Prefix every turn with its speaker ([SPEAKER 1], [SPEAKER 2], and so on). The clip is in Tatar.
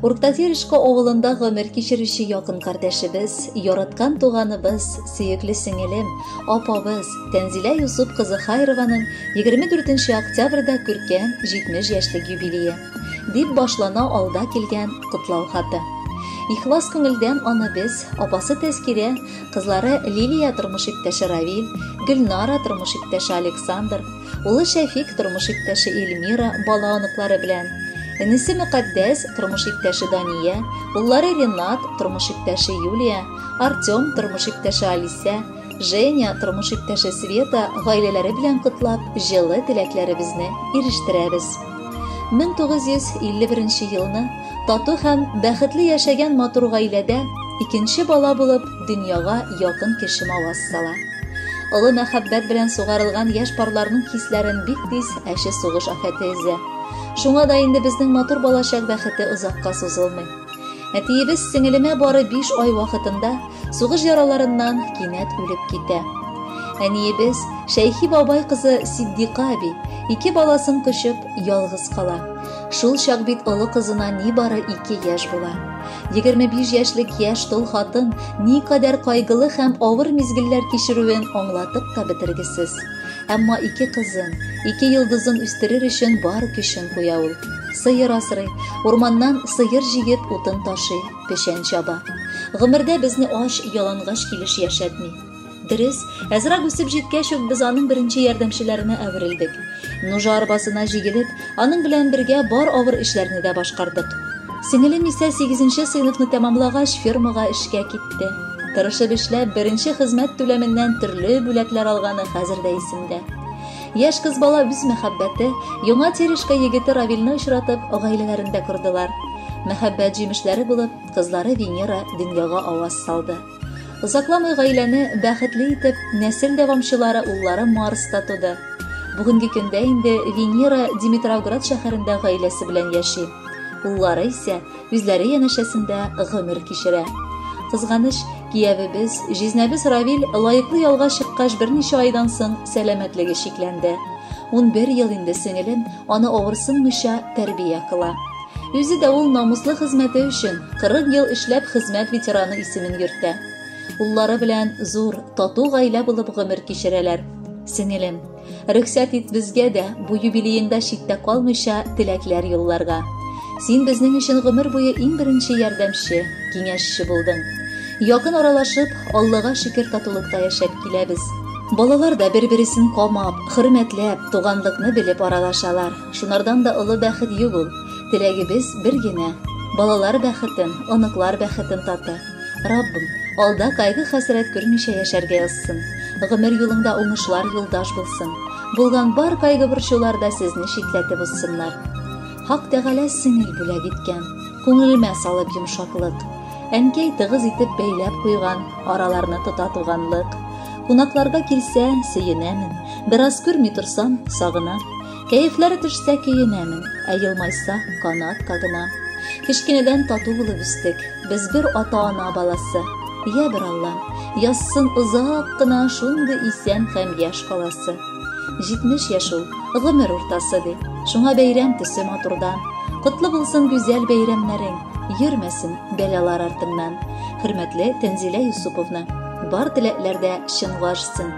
[SPEAKER 1] Урктатерешко авылында гомер кичерүче якын кардәшебез, яраткан туганыбыз, сөекле сеңелем, апабыз Тәнзилә Юсуп кызы Хайрованың 24 нче октябрьдә күркәм 70 яшьлек юбилее, дип башлана алда килгән котлау хаты. Ихлас күңелдән аны без, апасы Тәскирә, кызлары Лилия тормыш иптәше Равил, Гөлнара тормыш иптәше Александр, Улы Шәфик тормыш иптәше Эльмира, бала-оныклары белән. Энесе Мөкатдәс, тормыш иптәше Дания, уллары Ренат, тормыш иптәше Юлия, Артем, тормыш иптәше Алисә, Женя, тормыш иптәше Света гаиләләре белән котлап, җылы теләкләребезне ирештерәбез. 1951 елны тату һәм бәхетле яшәгән матур гаиләдә икенче бала булып дөньяга якын кеше маваз сала. Олы мәхәббәт белән сугарылган яшь парларның хисләрен бик тиз әче сугыш афәте эзе. Шуңа да инде безнең матур балачак бәхете озакка сузылмый. Әтиебез сеңелемә бары биш ай вакытында сугыш яраларыннан кинәт үлеп китә. Әниебез Шәйхи бабай кызы Сиддика әби ике баласын көчеп, ялгыз кала. Шул чак бит олы кызына ни бары ике яшь була. 25 яшьлек яшь тол хатын никадәр кайгылы һәм авыр мизгелләр кичерүен аңлатып та бетергесез. Әмма ике кызын, ике йолдызын үстерер өчен бар көчен куя ул. Сыер асрый, урманнан сыер җигеп утын ташый, печән чаба. Гомердә безне ач, ялангач килеш яшәтми. Дөрес, әзрәк үсеп җиткәч үк без аның беренче ярдәмчеләренә әверелдек. Нужа арбасына җигелеп, аның белән бергә бар авыр эшләрне дә башкардык. Сеңелем исә 8 сыйныфны тәмамлагач фермага эшкә китте. Тырышып эшләп, беренче хезмәт түләменнән төрле бүләкләр алганы хәзер дә исемдә. Яшь кыз бала үз мәхәббәте, яңа Терешка егете Равилне очратып, гаиләләрен дә кордылар. Мәхәббәт җимешләре булып, кызлары Венера дөньяга аваз салды. Озакламый гаиләне бәхетле итеп, нәсел дәвамчылары уллары Марста туды. Бүгенге көндә инде Венера Димитровград шәһәрендә гаиләсе белән яши. Уллары исә үзләре янәшәсендә гомер кичерә. Кызганыч, киявебез, җизнәбез Равил лаеклы ялга чыккач берничә айдан соң сәламәтлеге чикләнде. Унбер ел инде сеңелем аны авырсынмыйча тәрбия кыла. Үзе дә ул намуслы хезмәте өчен 40 ел эшләп хезмәт ветераны исемен йөртә. Уллары белән зур, тату гаилә булып гомер кичерәләр. Сеңелем, рөхсәт ит безгә дә бу юбилееңда читтә калмыйча теләкләр юлларга. Син безнең өчен гомер буе иң беренче ярдәмче, киңәшче булдың. Якын аралашып, Аллага шөкер татулыкта яшәп киләбез. Балалар да бер-бересен камап, хөрмәтләп, туганлыкны белеп аралашалар. Шунардан да олы бәхет юк ул. Теләгебез бер генә. Балалар бәхетен, оныклар бәхетен таты. Раббым, алда кайгы-хәсрәт күрмичә яшәргә язсын. Гомер юлыңда уңышлар юлдаш булсын. Булган бар кайгы-борчулар да сезне читләтеп узсыннар. Хак Тәгалә сеңел бүләк иткән, күңелемә салып йомшаклык. Әнкәй тыгыз итеп бәйләп куйган, араларны тота туганлык. Кунакларга килсә, сөенәмен. Бераз күрми торсам, сагынам. Кәефләре төшсә көенәмен, ә елмайса канат кагына. Кечкенәдән тату булып үстек. Без бер ата-ана баласы. Я бер Алла, язсын озак кына шундый исән һәм яшь каласы. 70 яшь ул, гомер уртасы ди. Шуңа бәйрәм төсе матурдан. Котлы булсын гүзәл бәйрәмнәрең, йөрмәсен бәлалар артыңнан. Хөрмәтле Тәнзилә Юсуповна, бар теләкләрдә чынга ашсын.